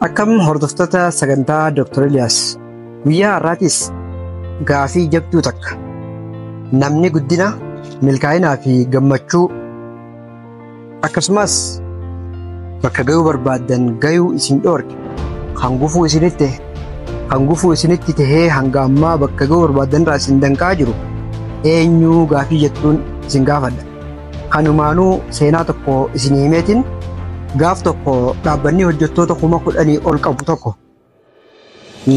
Akkam hordoftoota sagantaa Dr. Eliyaas guyyaa har'aatis gaafii jabduu takka namni guddina milkaa'inaa fi gammachuu akkasumas bakka gayuu barbaaddan gayuu isin dhoorke kan gufuu isinitti kan gufuu isinitti tahee hanga ammaa bakka gayuu barbaaddan irraa isin danqaa jiru eenyuu gaafii jettuun isin gaafadha. Kanumaanuu seenaa tokko isin himeetiin gaaf tokko dhaabbanni hojjettoota kuma kudhanii ol qabu tokko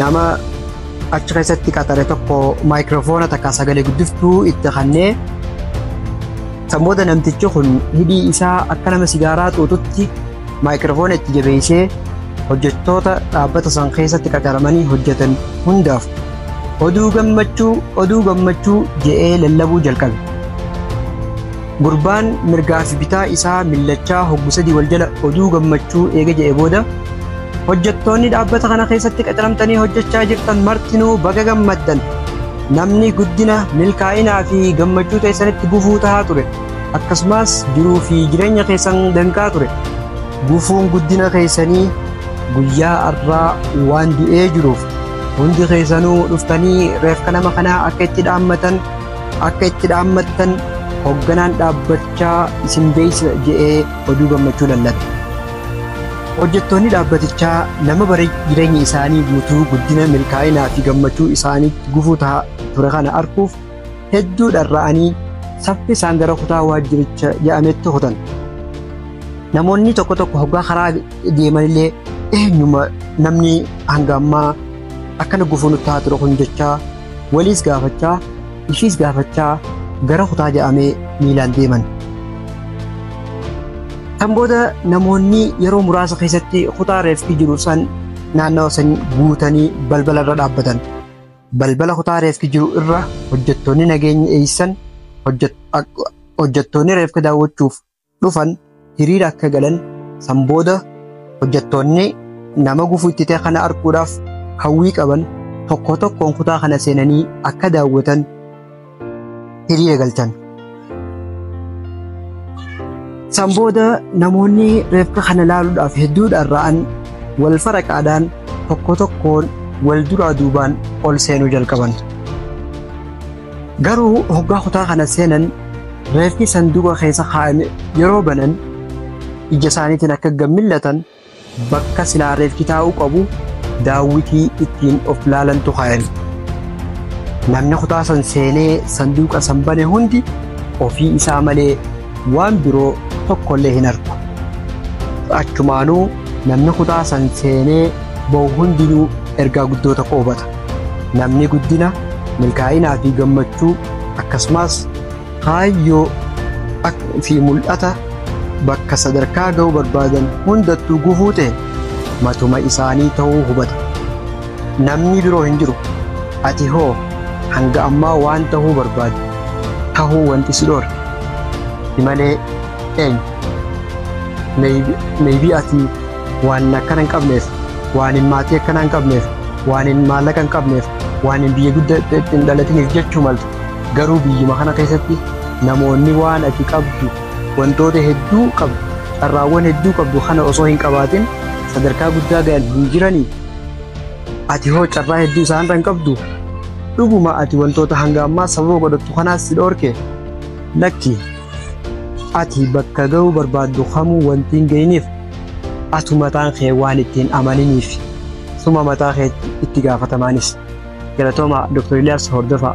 nama achi keessatti qaxare tokko maayikiroofoona takka sagalee guddiftuu itti kannee san booda namtichi kun hidhii isaa akka nama sigaaraa xuuxutti maayikiroofoona itti jabeessee hojjettoota dhaabbata san keessatti qaxaramanii hojjetan hundaaf Oduu gammachuu, oduu gammachuu je'ee lallabuu jalqabe. Gurbaan mirgaa fi bitaa isaa millachaa hoggu sadii wal jala oduu gammachuu eega je'e booda hojjettoonni dhaabbata kana keessatti qacaramtanii hojjechaa jirtan martinuu baga gammaddan. Namni guddina, milkaa'inaa fi gammachuu teessanitti gufuu tahaa ture. Akkasumas jiruu fi jireenya keessan danqaa ture. Gufuun guddina keessanii guyyaa arraa waan du'ee jiruuf Hundi keessanuu dhuftanii reefka nama kanaa akka itti dhaammatan akka itti dhaammattan hoogganaan dhaabbachaa isin beeksisa jedhee oduu gammachuu lallabe. Hojjettoonni dhaabbatichaa nama bara jireenya isaanii guutuu guddina milkaa'inaa fi gammachuu isaaniitti gufuu ta'a ture kana arguuf hedduu dharra'anii saffisaan gara kutaa waajjiricha jedhametti kutan. Namoonni tokko tokko hoggaa karaa deemanillee eenyuma namni hanga ammaa akkana gufuu nutti haa ture kun jechaa waliis gaafachaa ishiis gaafachaa gara kutaa jedhamee miilaan deeman. Kan booda namoonni yeroo muraasa keessatti kutaa reeffi jiru san naannawa san guutanii balbala irra dhaabbatan. Balbala kutaa reeffi jiru irra hojjettoonni nageenya eeysan hojjettoonni reefka daawwachuuf dhufan hiriira akka galan san booda hojjettoonni nama gufuu itti ta'e kana arguudhaaf hawwii qaban tokko tokkoon kutaa kana seenanii akka daawwatan hiriira galchan. San booda namoonni reefka kana laaluudhaaf hedduudhaan ra'an wal faraqaadhaan tokko tokkoon wal duraa duubaan ol seenuu jalqaban. Garuu hoggaa kutaa kana seenan reeffi sanduuqa keessa kaa'ame yeroo banan ija isaaniitiin akka gammillatan bakka silaa reeffi taa'uu qabu daawwitii ittiin of laalantu kaa'ame. Namni kutaa san seenee sanduuqa san bane hundi ofii isaa malee waan biroo tokkollee hin argu. Achumaanuu namni kutaa san seenee ba'u hundinuu ergaa guddoo tokko hubata. Namni guddina, milkaa'inaa fi gammachuu akkasumas kaayyoo fi mul'ata bakka sadarkaa ga'uu barbaadan hundattuu gufuu ta'e matuma isaanii ta'uu hubata. Namni biroo hin jiru. Ati hoo hanga ammaa waan ta'uu barbaadu ta'uu wanti si dhoorke si malee eenyu? Maybe ati waanin akkana hin qabneef waanin maatii akkanaa hin qabneef waanin maallaqa hin qabneef waanin biyya guddaa hin dhalatiniif jechuu malta garuu biyyuma kana keessatti namoonni waan ati qabdu wantoota hedduu qabdu carraawwan hedduu qabdu kana osoo hin qabaatin sadarkaa guddaa gahan hin jiranii ati hoo carraa hedduu isaanirra hin qabdu dhuguma ati wantoota hanga ammaa sababa godhattu kanaas si dhoorke lakki Ati bakka ga'uu barbaaddu kamuu wanti hin ga'ineef atu mataan kee waan itti hin amaniniif suma mataa kee itti gaafatamaanis. Galatooma Dr. Ilyaas Hordofaa.